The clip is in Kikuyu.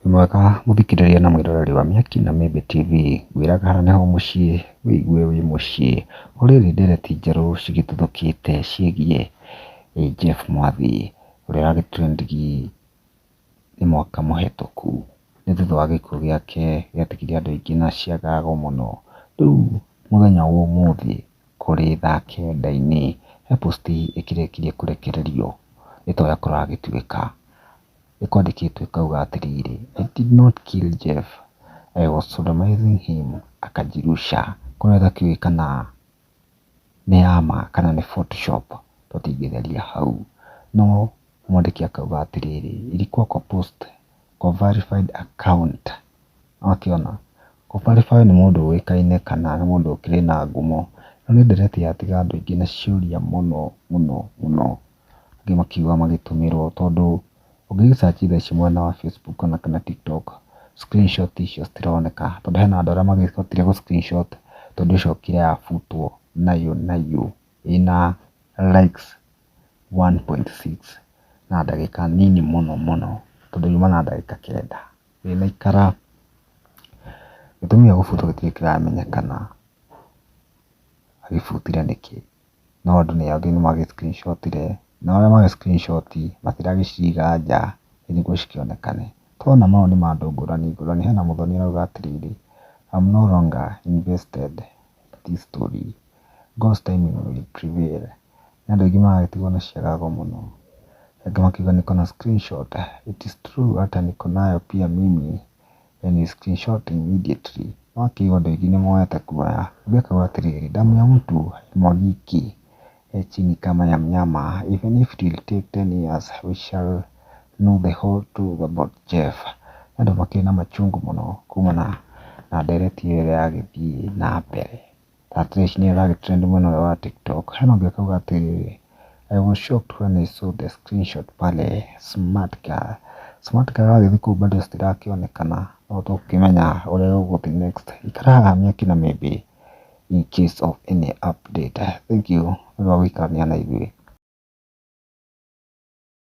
Wĩ mwega mũthikĩrĩria na mwĩroreri wa Mĩaki na Mĩmbi TV, ngwĩraga haha nĩho mũciĩ wĩigue wĩ mũciĩ. O rĩrĩ ndereti njerũ cigĩtuthũkĩte ciĩgiĩ Jeff Mwathi ũrĩa ũrarĩ trending nĩ mwaka mũhĩtũku nĩ thutha wa gĩkuũ gĩake gĩatigiire andũ aingĩ na ciagago mũno. Rĩu mũthenya wa ũmũthĩ kũrĩ thaa kenda-inĩ he post ĩkĩrĩkirie kũrekererio ĩtoĩ akorwo agĩtuĩka nĩ kwandĩkĩtwo ĩkauga atĩrĩrĩ, I did not kill Jeff, I was sodomizing him, akajirusha. Kũrĩa tũtiũĩ kana nĩ ya ma kana nĩ photoshop tũtingĩtheria hau. No mwandĩki akauga atĩrĩrĩ, ilikuwa kwa post kwa verified account. Nĩ wakĩona? Kũ verify nĩ mũndũ ũĩkaine kana nĩ mũndũ ũkĩrĩ na ngumo. Rĩu nĩ ndeereti yatiga andũ aingĩ na ciũria mũno mũno mũno. angĩ makiuga magĩtũmĩrwo tondũ ũngĩ gĩ search thaa ici mwena wa Facebook kana TikTok screenshot icio citironeka tondũ hena andũ arĩa mahotire gũ screenshot tondũ ĩcokire ya butwo nayo nayo ĩna likes one point six na ndagĩka nini mũno mũno tondũ yuma na ndagĩka kenda ndĩnaikara. Gĩtũmi gĩa gũbutwo gĩtirĩ kĩramenyekana agĩbutire nĩkĩ. no andũ nĩ angĩ nĩ magĩ screenshot -ire, nao arĩa magĩ screenshot matiragĩ ciga nja ĩ nĩguo cikĩonekane. Nĩ tũrona mau nĩ ma andũ ngũrani ngũrani, hena mũthoni arauga atĩrĩrĩ, I'm no longer invested in this story, God's timing will prevail. Nĩ andũ aingĩ maragĩtigwo na ciaga ngo mũno. Angĩ makauga niko na screenshot, it is true hata niko nayo pia mimi then you screenshot immediately. No akĩigua andũ aingĩ nĩ moete kuoya. Ambia akauga atĩrĩrĩ, damu ya mtu haimwagiki e chini kama ya mnyama. Even if it will take 10 years, we shall know the whole truth about Jeff. Nĩ andũ makĩrĩ na machungu mũno kumana na ndereti ĩyo ĩrĩa yagĩthiĩ na mbere. At least nĩ aragĩtrend mwena ũyũ wa TikTok. Hena ũngĩ ũkauga atĩrĩ, I was shocked when I saw the screenshot pale smart car. Smart car wagĩthiĩ kũu bado citirakĩonekana, no tũgũkĩmenya ũrĩa gũgũthiĩ next. Ikara haha mĩaki na maybe in case of any update. Thank you nĩ ũndũ wa gũikarania na ithuĩ.